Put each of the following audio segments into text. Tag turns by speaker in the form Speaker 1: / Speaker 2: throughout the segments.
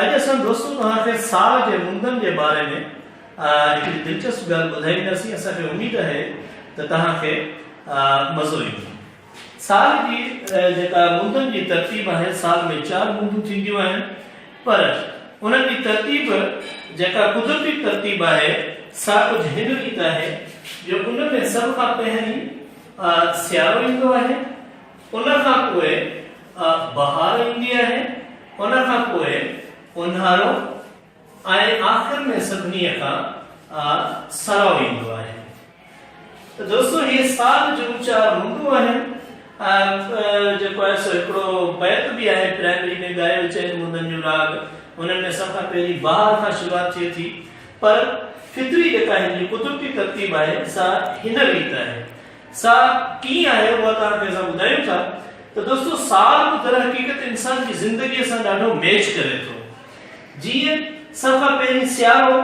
Speaker 1: اڄ اسان دوستو توهان کي ساهه جي مندن جي باري ۾ هڪڙي دلچسپ ڳالهه ٻڌائينداسين اسان کي اميد آهي ته توهان کي مزو ايندو ساهه جي جيڪا مندن جي ترتيب آهي سال ۾ چار مندون ٿينديون آهن پر انهن جي ترتيب جيڪا قدرتي ترتيب آهي سا ڪجهه هن ريت آهي جو ان ۾ سڀ کان پهرين سيارو ايندو آهي، ان کان پوء بهار ايندي آهي، ان کان پوء اونهارو ۽ آخر ۾ سڀني کان سرائو ايندو آهي. ته دوستو هي ساز جون چار منڊون آهن ۽ جيڪو آهي سو هڪڙو بيت به آهي پرائمري ۾ ڳايو چئن منڊن جو راڳ هنن ۾ سڀ کان پهرين بهار کان شروعات ٿئي ٿي پر فطري جيڪا هن جي قدرتي ترتيب آهي سا هن ريت آهي سا ڪيئن آهي اها توهان کي اسان ٻڌايون ٿا ته دوستو ساز به در حقيقت انسان جي زندگي سان ڏاڍو ميچ ڪري ٿو. جيئن سڀ کان پهرين سيارو،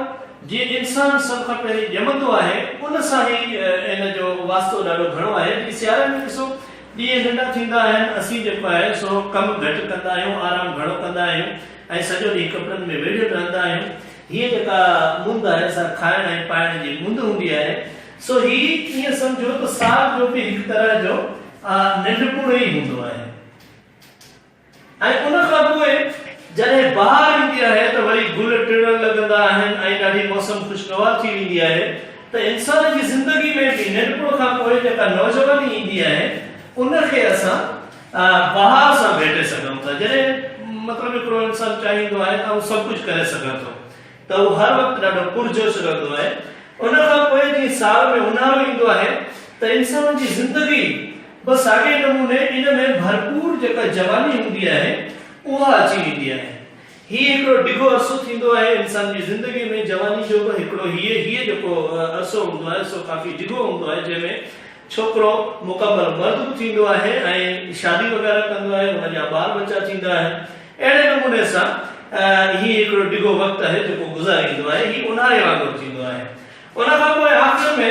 Speaker 1: جيئن انسان سڀ کان پهرين ڄمندو آهي، ان سان هي ان جو واسطو ڏاڍو گهڻو آهي. جيئن سياري ۾ ڏسو، ڏينهن ننڍا ٿيندا آهن، اسين جيڪو آهي سو ڪم گهٽ ڪندا آهيون، آرام گهڻو ڪندا آهيون ۽ سڄو ڏينهن ڪپڙن ۾ ويڙهيل رهندا آهيون. هيء جيڪا موند آهي سا کائڻ ۽ پائڻ جي موند هوندي آهي. سو هي ائين سمجهو ته سال جو به هڪ طرح جو ننڍپڻ ئي هوندو آهي. ۽ ان کان پوء جڏهن بهار ايندي آهي ته وري گل ٽڙڻ لڳندا آهن ۽ ڏاڍي موسم خوشگوار ٿي ويندي آهي ته انسان جي زندگي ۾ به ننڍپڻ کان پوء جيڪا نوجواني ايندي آهي ان کي اسان بهار سان ڀيٽي سگهون ٿا جڏهن مطلب هڪڙو انسان چاهيندو آهي ته آئون سڀ ڪجهه ڪري سگهان ٿو ته هو هر وقت ڏاڍو پرجوش رهندو آهي. ان کان پوء جيئن سال ۾ اونهارو ايندو آهي ته انسان جي زندگي به ساڳئي نموني ان ۾ ڀرپور جيڪا جواني هوندي آهي اها اچي ويندي آهي. هي هڪڙو ڊگهو عرصو ٿيندو آهي انسان جي زندگي ۾ جواني جو به هڪڙو هي هي جيڪو عرصو هوندو آهي سو ڪافي ڊگهو هوندو آهي جنهن ۾ ڇوڪرو مڪمل مرد به ٿيندو آهي ۽ شادي وغيره ڪندو آهي ان جا ٻار ٻچا ٿيندا آهن. اهڙي نموني سان هي هڪڙو ڊگهو وقت آهي جيڪو گذاريندو آهي. هي اونهاري وانگر ٿيندو آهي. ان کان پوء آخر ۾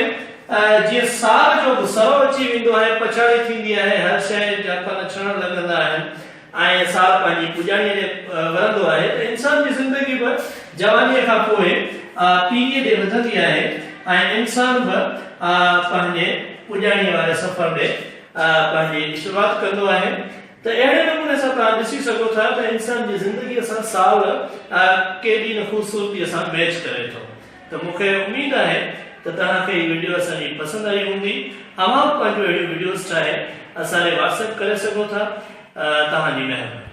Speaker 1: جيئن سال جو به سرو اچي ويندو آهي، پڇاڙي ٿيندي آهي، هر شيء جا پن ڇڻڻ لڳندا آهن ۽ سال پنهنجي پڄاڻيء ڏي ورندو آهي ته انسان جي زندگي به جوانيء کان پوء پيريء ڏي وڌندي آهي ۽ انسان به پنهنجي پڄاڻيء واري سفر ڏي پنهنجي شروعات ڪندو آهي. ته اهڙي نموني سان توهان ڏسي سگهو ٿا ته انسان جي زندگيء سان سال ڪيڏي نه خوبصورتيء سان ميچ ڪري ٿو ته مون کي اميد آهي ته توهان کي هي وڊيو اسان جي پسند آئي هوندي اوهان به پنهنجون اهڙيون وڊيوز ٺاهي اسان لئي واٽس ايپ ڪري سگهو ٿا توهان جي مهرباني.